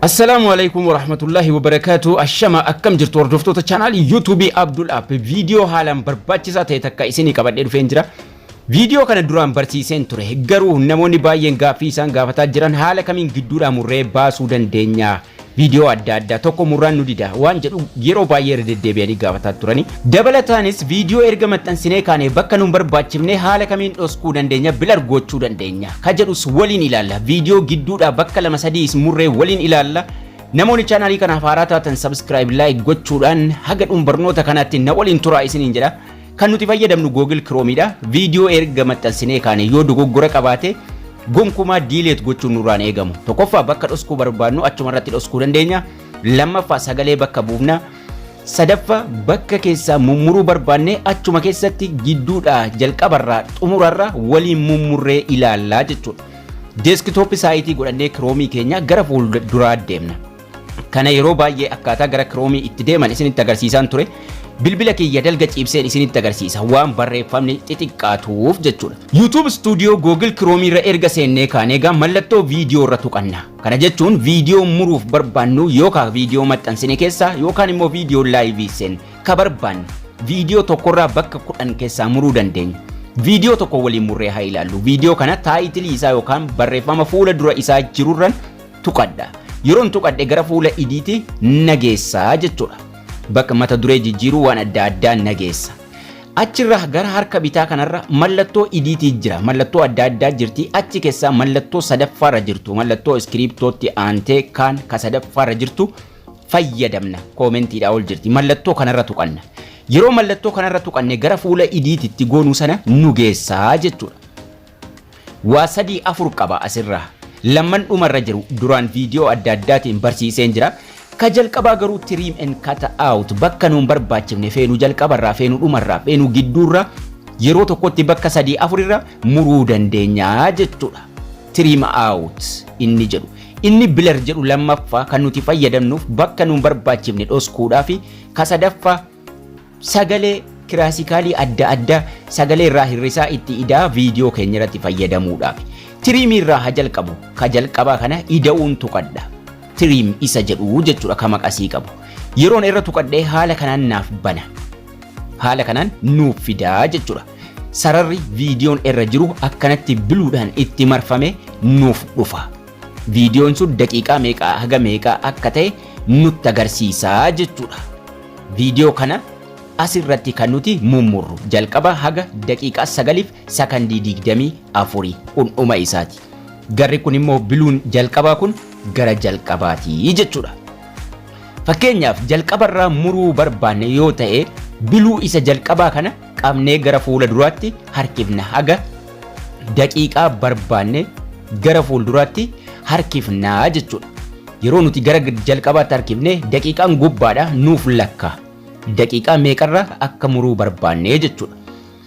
Assalaamu alaikum warahmatullahi wabarakaatu ashama akkam jirtu hordoftoota chaanaal yuutuubii Abdul App viidiyoo haalaan barbaachisaa ta'e takka isinii qabadhee dhufeen jira. Viidiyoo kana duraan barsiiseen ture garuu namoonni baay'een gaaffii isaan gaafataa jiran haala kamiin gidduudhaa murree baasuu dandeenya Viidiyoo adda addaa tokko murraan nu dida waan jedhu yeroo baay'ee irra deddeebi'anii gaafataa turani. Dabalataanis viidiyoo erga maxxansinee kaanee bakka nun barbaachifne haala kamiin dhoskuu dandeenya, blur gochuu dandeenya, ka jedhus waliin ilaalla. Viidiyoo gidduudhaa bakka lama sadiis murree waliin ilaalla. Namoonni chaanaalii kanaaf haaraa taatan subscribe, like gochuudhaan haga dhum barnoota kanaatti na waliin turaa isiniin jedha. Kan nuti fayyadamnu Google Chrome dha. Viidiyoo erga maxxansinee kaane yoo dogoggora qabaate gonkumaa diileet gochuun nurraan eegamu. Tokkoffaa bakka dhoskuu barbaadnu achuma irratti dhoskuu dandeenya. Lammaffaa sagalee bakka buufna. Sadaffaa bakka keessaa mummuruu barbaannee achuma keessatti gidduudhaa jalqabarraa xumurarra waliin mummurree ilaallaa jechuudha. Deeskitooppi saayitii godhannee kiroomii keenya gara fuulduraa deemna. Kana yeroo baay'ee akkaataa gara kiroomii itti deeman isinitti agarsiisaan ture. Bilbila kiyya dalga ciibseen isinitti agarsiisa waan barreeffamni xixiqqaatuuf jechuudha. YouTube Studio Google Chrome irra erga seennee kaanee egaa mallattoo viidiyoo irra tuqanna. Kana jechuun viidiyoo muruuf barbaannu yookaan viidiyoo maxxansine keessaa yookaan immoo viidiyoo laayivii seen ka barbaanne viidiyoo tokkorraa bakka kudhan keessaa muruu dandeenya. Viidiyoo tokko waliin murree haa ilaallu. Viidiyoo kana taayitilii isaa yookaan barreeffama fuula dura isaa jirurran tuqadha. Yeroon tuqadhe gara fuula idiiti na geessa jechuudha. Bakka mata duree jijjiiruu waan adda addaa na geessa. Achirra gara harka bitaa kanarra mallattoo idiitii jira. Mallattoo adda addaa jirti. Achi keessaa mallattoo sadaffaarra jirtu. Mallattoo iskiriiptootti aantee kaan ka sadaffaarra jirtu fayyadamna. Koomentiidhaa ol jirti. Mallattoo kanarra tuqanna. Yeroo mallattoo kanarra tuqanne gara fuula idiititti goonuu sana nu geessaa jechuudha. Waa sadii afur qaba asirraa. Lamman dhuma irra jiru duraan viidiyoo adda addaatiin barsiiseen jira. Ka jalqabaa garuu trim and cut out bakka nuun barbaachifne feenu jalqabarraa feenu dhumarraa feenu gidduurraa yeroo tokkotti bakka sadii afurirra muruu dandeenya jechuudha. Trim out inni jedhu. Inni blur jedhu lammaffaa kan nuti fayyadamnuuf bakka nuun barbaachifne dhoskuudhaafi ka sadaffaa Sagalee kiraasikaalii adda adda sagalee irraa hirrisaa itti idaa viidiyoo keenya irratti fayyadamuudhaaf. Tiriimii irraa haa jalqabu. Ka jalqabaa kana ida'uun tuqadha. Tiriim isa jedhu jechuudha ka maqasii qabu. Yeroon irra tuqadhee haala kanaan naaf bana. Haala kanaan nuuf fidaa jechuudha. Sararri viidiyoon irra jiru akkanatti biluudhaan itti marfame nuuf dhufa. Viidiyoon sun daqiiqaa meeqaa haga meeqaa akka ta'e nutti agarsiisaa jechuudha. Viidiyoo kana as irratti kan nuti mummurru jalqaba haga daqiiqaa 9f sakandii 24 kun dhuma isaati. Garri kun immoo biluun jalqabaa kun gara jalqabaati jechuudha. Fakkeenyaaf jalqabarraa muruu barbaanne yoo ta'e biluu isa jalqabaa kana qabnee gara fuula duraatti harkifna haga daqiiqaa barbaanne gara fuulduraatti harkifnaa jechuudha. Yeroo nuti gara jalqabaatti harkifne daqiiqaan gubbaadha nuuf lakka. Daqiiqaa meeqarra akka muruu barbaanne jechuudha.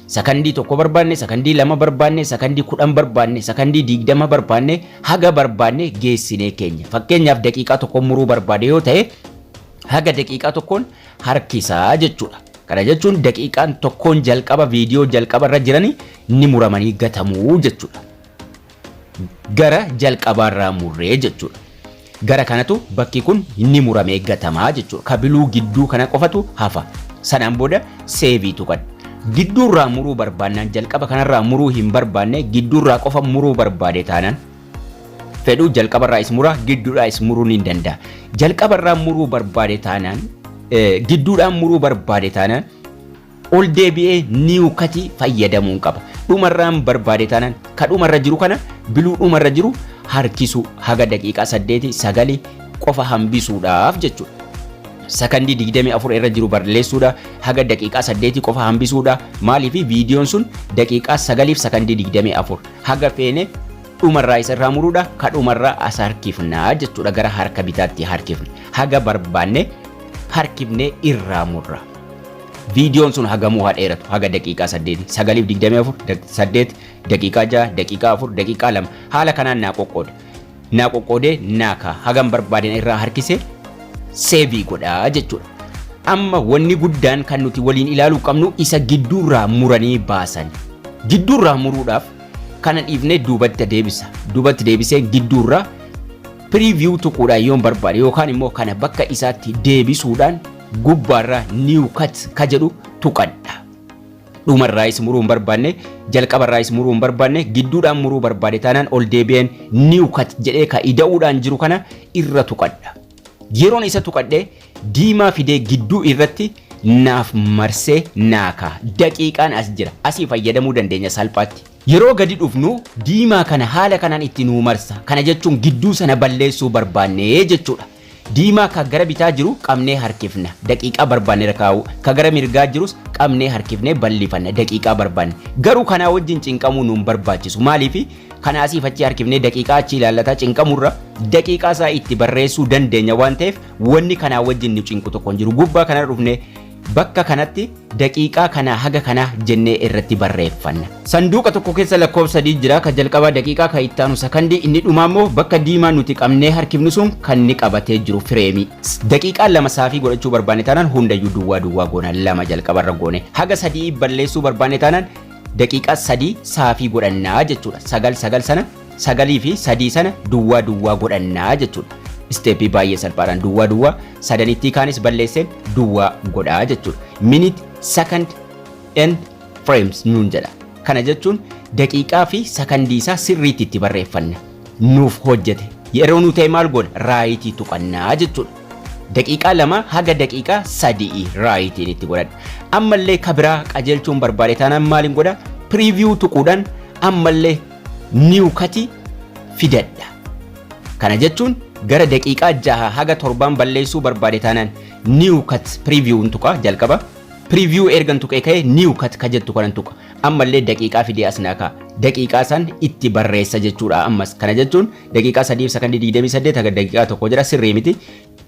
Sakandii tokko barbaanne, sakandii lama barbaanne, sakandii kudhan barbaanne, sakandii digdama barbaanne haga barbaanne geessinee keenya. Fakkeenyaaf daqiiqaa tokko muruu barbaade yoo ta'e haga daqiiqaa tokkoon harkisa jechuudha. Kana jechuun daqiiqaan tokkoon jalqaba viidiyoo jalqaba irra jiranii ni muramanii gatamuu jechuudha. Gara jalqabaa irraa murree jechuudha. Gara kanatu bakki kun ni muramee gatamaa jechuudha. Kabiluu gidduu kana qofatu hafa. Sanaan booda seevii tuqan. Gidduurraa muruu barbaannaan jalqaba kanarraa muruu hin barbaanne gidduurraa qofa muruu barbaade taanaan fedhu jalqabarraa is mura gidduudhaa is muruu ni danda'a. Jalqabarraa muruu barbaade taanaan gidduudhaan muruu barbaade taanaan ol deebi'ee niiw katii fayyadamuun qaba. Dhumarraan barbaade taanaan ka dhumarra jiru kana biluu dhumarra jiru harkisuu haga daqiiqaa saddeeti sagali qofa hambisuudhaaf jechuudha. Sakandii 24 irra jiru barreessuudha haga daqiiqaa saddeeti qofa hambisuudha maaliif viidiyoon sun daqiiqaa sagaliif sakandii 24 Haga feene dhumarraa isa irraa muruudha. Ka dhumarraa as harkifna jechuudha. Gara harka bitaatti harkifna. Haga barbaanne harkifnee irraa murra. Viidiyoon sun hagamuu haa dheeratu haga daqiiqaa 8 9:24 8 daqiiqaa 6 daqiiqaa 4 daqiiqaa 2 haala kanaan naa qoqqooda. naa qoqqoodee naa kaa hagan barbaade na irraa harkise seebii godha jechuudha. Amma wanni guddaan kan nuti waliin ilaaluu qabnu isa gidduurraa muranii baasan. Gidduurraa muruudhaaf kana dhiifnee duubatti deebisa. Duubatti deebisee gidduurraa preview tuquudhaan yoon barbaade yookaan immoo kana bakka isaatti deebisuudhaan gubbaarraa new cut ka jedhu tuqadha. Dhuma irraayis muruu hin barbaanne, jalqaba irraayis muruu hin barbaanne, gidduudhaan muruu barbaade taanaan ol deebi'een new cut jedhee ka ida'uudhaan jiru kana irra tuqadha. Yeroon isa tuqadhe diimaa fidee gidduu irratti naaf marsee naa ka'a. Daqiiqaan as jira. Asii fayyadamuu dandeenya salphaatti. Yeroo gadi dhufnu diimaa kana haala kanaan itti nuu marsa. Kana jechuun gidduu sana balleessuu barbaanne jechuudha. Diimaa ka gara bitaa jiru qabnee harkifna, daqiiqaa barbaanne irra kaa'uu, ka gara mirgaa jirus qabnee harkifnee ballifanna, daqiiqaa barbaanne. Garuu kanaa wajjin cinqamuu nu hin barbaachisu. Maaliifi? Kana asiif achi harkifnee daqiiqaa achi ilaallataa cinqamurra daqiiqaa isaa itti barreessuu dandeenya waan ta'eef wanni kanaa wajjin nu cinqu tokko hin jiru. Gubbaa kanarra dhufnee Bakka kanatti daqiiqaa kanaa haga kanaa jennee irratti barreeffanna. Sanduuqa tokko keessa lakkoofsa sadii jira. Ka jalqabaa daqiiqaa, ka itti aanu sakandii, inni dhumaa immoo bakka diimaa nuti qabnee harkifnu sun kan inni qabatee jiru fireemii. Daqiiqaa lama saafii godhachuu barbaanne taanaan hundayyuu duwwaa duwwaa goona. Lama jalqabarra goone. Haga sadii balleessuu barbaanne taanaan daqiiqaa sadii saafii godhannaa jechuudha. Sagal sagal sana sagalii fi sadii sana duwwaa duwwaa godhannaa jechuudha. Isteeppii baay'ee salphaadhaan duwwaa duwwaa sadanittii kaanis balleessee duwwaa godhaa jechuudha. Minute, second and frames nuun jedha. Kana jechuun daqiiqaa fi sakandii isaa sirriitti itti barreeffanna. Nuuf hojjete. Yeroo nu ta'e maal goona? Raayitii tuqannaa jechuudha. Daqiiqaa lama haga daqiiqaa sadi'i raayitiin itti godhadha. Ammallee ka biraa qajeelchuun barbaade taanaan maaliin godha? Preview tuquudhaan ammallee new kati fidadha. Kana jechuun gara daqiiqaa jaha haga torbaan balleessuu barbaade taanaan new cut preview hin tuqa jalqaba. Preview ergan tuqee ka'ee new cut ka jettu kanan tuqa. Ammallee daqiiqaa fidee as naa ka'a. Daqiiqaa san itti barreessa jechuudha ammas. Kana jechuun daqiiqaa 3 fi sakandii 28 haga daqiiqaa tokko jira sirrii miti.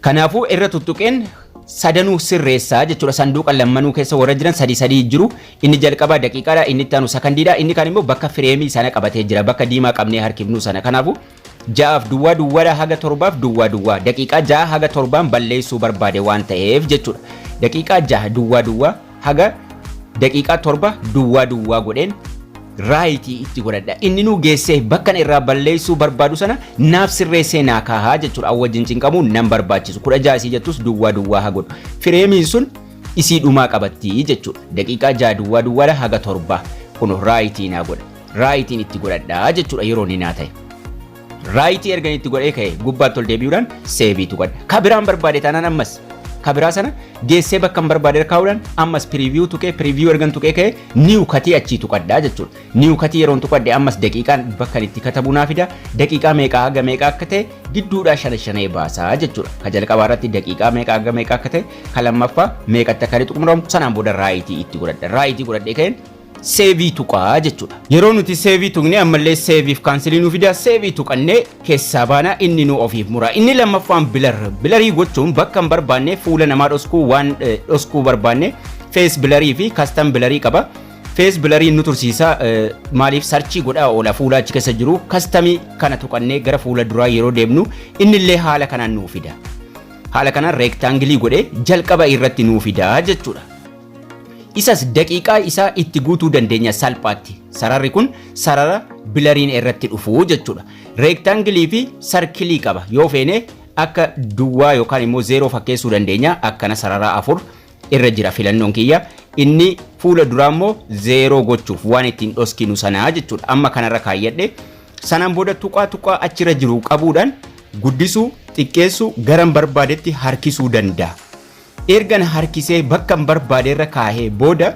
Kanaafuu irra tuttuqeen sadanuu sirreessa jechuudha. Sanduuqa lammanuu keessa warra jiran sadii sadii jiru. Inni jalqabaa daqiiqaadha, inni itti aanu sakandiidha, inni kaan immoo bakka fireemii sana qabatee jira, bakka diimaa qabnee harkifnuu sana. Kanaafuu ja'aaf duwwaa duwwaadha haga torbaaf duwwaa duwwaa. Daqiiqaa ja'a haga torbaan balleessuu barbaade waan ta'eef jechuudha. Daqiiqaa ja'a duwwaa duwwaa. haga daqiiqaa torba duwwaa duwwaa godheen raayitii itti godhadha. Inni nuu geessee bakka irraa balleessuu barbaadu sana naaf sirreessee naa kaahaa jechuudha. An wajjin cinqamuu nan barbaachisu. Kudha ja'a isii jettus duwwaa duwwaa haa godhu. Fireemiin sun isii dhumaa qabatti jechuudha. Daqiiqaa ja'a duwwaa duwwaadha haga torbaa. Kun raayitii naa godha. Raayitiin itti godhadha jechuudha yeroo inni naa ta'e. Raayitii ergan itti godhee ka'e gubbaatti ol deebi'uudhaan seebii tuqadha. Ka biraan barbaade taanaan ammas ka biraa sana geessee bakka hin barbaade irra kaa'uudhaan ammas piriiviyuu tuqee piriiviyuu ergan tuqee ka'e niiw katii achii tuqadha jechuudha. Niiw katii yeroon tuqadhe ammas daqiiqaan bakka inni itti katabu naa fida daqiiqaa meeqaa haga meeqaa akka ta'e gidduudhaa shana shanee baasaa jechuudha. Ka jalqabaa irratti daqiiqaa meeqaa haga meeqaa akka ta'e ka lammaffaa meeqatti akka inni xumuramu sanaan booda raayitii itti godhadha. Raayitii godhadhee ka'een Save tuqaa jechuudha. Yeroo nuti save tuqne ammallee save fi cancel nu fida save tuqannee keessaa baana inni nu ofiif mura. Inni lammaffaan blur. Blurrii gochuun bakka hin barbaanne fuula namaa dhoskuu waan eh, dhoskuu barbaanne face blurrii fi custom blurrii qaba. Face blurrii nu tursiisa eh, maaliif sarchii godhaa oola fuula achi keessa jiru customii kana tuqannee gara fuula duraa yeroo deemnu innillee haala kanaan nu fida. Haala kanaan rectangle godhee jalqaba irratti nu fida jechuudha. Isas daqiiqaa isaa itti guutuu dandeenya salphaatti. Sararri kun sarara bilariin irratti dhufu jechuudha. Reektaangilii fi sarkilii qaba. Yoo feene akka duwwaa yookaan immoo zeeroo fakkeessuu dandeenya. Akkana sarara afur irra jira filannoon kiyya. Inni fuula duraa immoo zeeroo gochuuf waan ittiin dhoskinu sanaa jechuudha. Amma kanarra kaayyadhe. Sanaan booda tuqaa tuqaa achirra jiru qabuudhaan guddisuu, xiqqeessuu, garan barbaadetti harkisuu danda'a. Erga na harkisee bakkan barbaaderra kaahee booda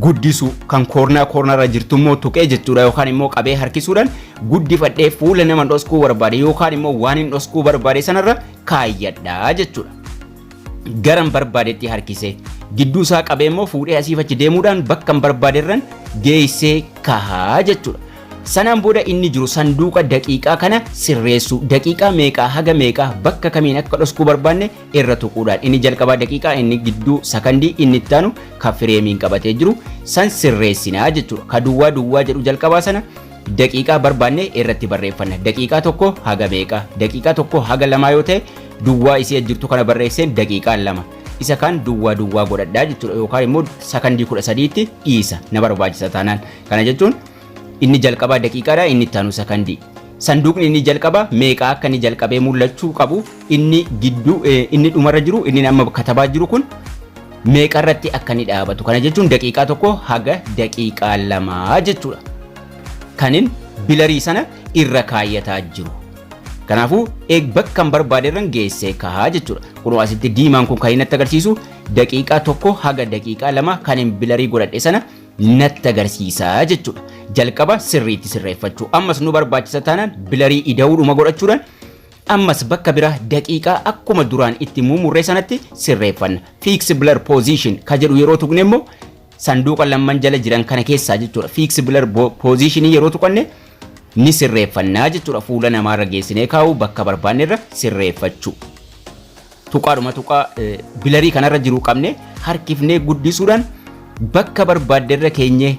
guddisuu kan koornaa koornaarra jirtu immoo tuqee jechuudha yookaan immoo qabee harkisuudhaan guddifadhee fuula nama dhoskuu barbaade yookaan immoo waan hin dhoskuu barbaade sanarra kaayyadha jechuudha. Garan barbaadetti harkisee gidduu isaa qabee immoo fuudhee asiif achi deemuudhaan bakkan barbaaderran geessee kahaa jechuudha. Sanaan booda inni jiru sanduuqa daqiiqaa kana sirreessuu daqiiqaa meeqaa haga meeqaa bakka kamiin akka dhoskuu barbaanne irra tuquudhaan inni jalqabaa daqiiqaa inni gidduu sakandii inni itti aanu ka fireemiin qabatee jiru san sirreessinaa jechuudha. Ka duwwaa duwwaa jedhu jalqabaa sana daqiiqaa barbaanne irratti barreeffanna. Daqiiqaa tokko haga meeqa? Daqiiqaa tokko haga lamaa yoo ta'e duwwaa isii jirtu kana barreesseen daqiiqaa lama. Isa kaan duwwaa duwwaa godhadhaa jechuudha yookaan immoo sakandii kudha sadiitti dhiisa na barbaachisa taanaan. Kana jechuun Inni jalqabaa daqiiqaadha, inni itti aanu sakandii. Sanduuqni inni jalqaba meeqa akka inni jalqabee mul'achuu qabu inni gidduu inni dhumarra jiru inni amma katabaa jiru kun meeqa irratti akka inni dhaabatu kana jechuun daqiiqaa tokko haga daqiiqaa lamaa jechuudha. Kanin bilarii sana irra kaayyataa jiru. Kanaafuu eeg bakka hin barbaade irra geessee kahaa jechuudha. Kunoo asitti diimaan kun kan inni natti agarsiisu daqiiqaa tokko haga daqiiqaa lama kan hin bilarii godhadhe sana natti agarsiisa jechuudha. Jalqaba sirriitti sirreeffachuu. Ammas nu barbaachisa taanaan bilarii ida'uudhuma godhachuudhaan ammas bakka biraa daqiiqaa akkuma duraan itti muumurree sanatti sirreeffanna. Fix blur position ka jedhu yeroo tuqne immoo sanduuqa lamman jala jiran kana keessaa jechuudha. Fix blur bo- position yeroo tuqanne ni sirreeffannaa jechuudha. Fuula namaarra geessinee kaa'uu bakka barbaannerra sirreeffachuu. Tuqaadhuma tuqaa bilarii kanarra jiru qabne harkifnee guddisuudhaan bakka barbaadde irra keenyee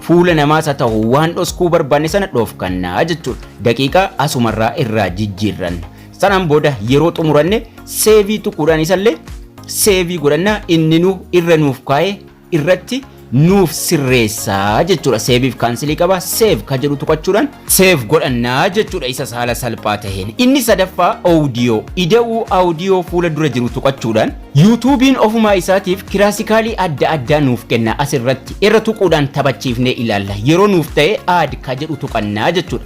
fuula namaas haa ta'u waan dhoskuu barbaanne sana dhoofkannaa jechuudha. Daqiiqaa asumarraa irraa jijjiirranna. Sanaan booda yeroo xumuranne seevii tuquudhaan isallee seevii godhannaa inni nu irra nuuf kaa'ee irratti nuuf sirreessaa jechuudha. Seeviif kaansilii qaba. Seev ka jedhu tuqachuudhaan seev godhannaa jechuudha isa haala salphaa taheen. Inni sadaffaa oodiyoo. Ida'uu oodiyoo fuula dura jiru tuqachuudhaan yuutuubiin ofumaa isaatiif kiraasikaalii adda addaa nuuf kenna asirratti irra tuquudhaan taphachiifnee ilaalla. Yeroo nuuf ta'e aad ka jedhu tuqannaa jechuudha.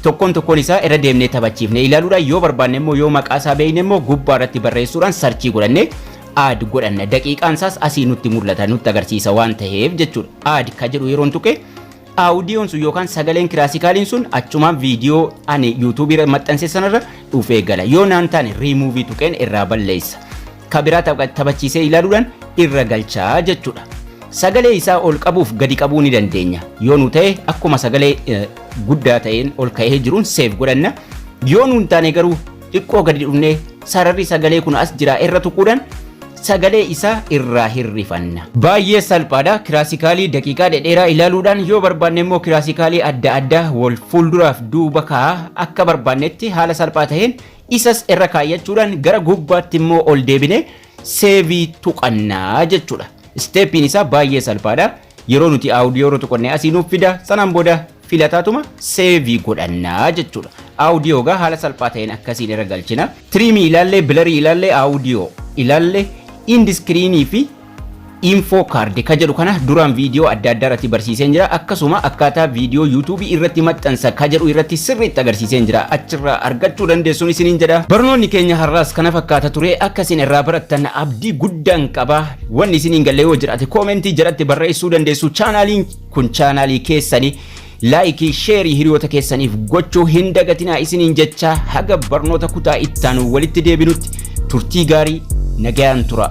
tokkoon tokkoon isaa irra deemnee taphachiifnee ilaaluudhaan yoo barbaanne immoo yoo maqaa isaa beekne immoo gubbaa irratti barreessuudhaan sarchii godhannee add godhanna daqiiqaan isaas asii nutti mul'ata nutti agarsiisa waan taheef jechuudha add ka jedhu yeroon tuqe audiyoon sun yookaan sagaleen kiraasikaaliin sun achumaan viidiyoo ani yuutuubii irra maxxanse sanarra dhufee gala yoo naan taane riimuuvii tuqeen irraa balleessa ka biraa tapha- taphachiisee ilaaluudhaan irra galchaa jechuudha sagalee isaa ol qabuuf gadi qabuu ni dandeenya yoo nu ta'e akkuma sagalee eh, guddaa ta'een ol ka'ee jiruun seef godhanna yoo nu hin taane garuu xiqqoo gadi dhufnee sararri sagalee kun as jira irra tuquudhaan sagalee isaa irraa hirrifanna. Baay'ee salphaadha. Kiraasikaalii daqiiqaa dhedheeraa ilaaluudhaan yoo barbaanne immoo kiraasikaalii adda addaa wal fuulduraaf duuba kaa'a akka barbaannetti haala salphaa ta'een isas irra kaayyachuudhaan gara gubbaatti immoo ol deebine seevii tuqannaa jechuudha. Isteeppiin isaa baay'ee salphaadha. Yeroo nuti audio irra tuqanne asii nuuf fida sanaan booda filataatuma seevii godhannaa jechuudha. Audio gaa haala salphaa ta'een akkasiin irra galchina. Tiriimii ilaallee, bilarii ilaallee, audio ilaallee, indiskiriinii fi info card ka jedhu kana duraan viidiyoo adda addaa irratti barsiiseen jira akkasuma akkaataa viidiyoo yuutuubii irratti maxxansa ka jedhu irratti sirriitti agarsiiseen jira achirraa argachuu dandeessuun isiniin jedha barnoonni keenya har'aas kana fakkaata ture akkasiin irraa barattan abdii guddaan qaba Wanni isin hin galle yoo jiraate koomentii jalatti barreessuu dandeessu. Chaanaaliin kun chaanaalii keessani laayikii sheerii hiriyoota keessaniif gochuu hin dagatinaa isiniin jechaa haga barnoota kutaa ittaanu walitti deebinutti turtii gaarii nagayaan tura.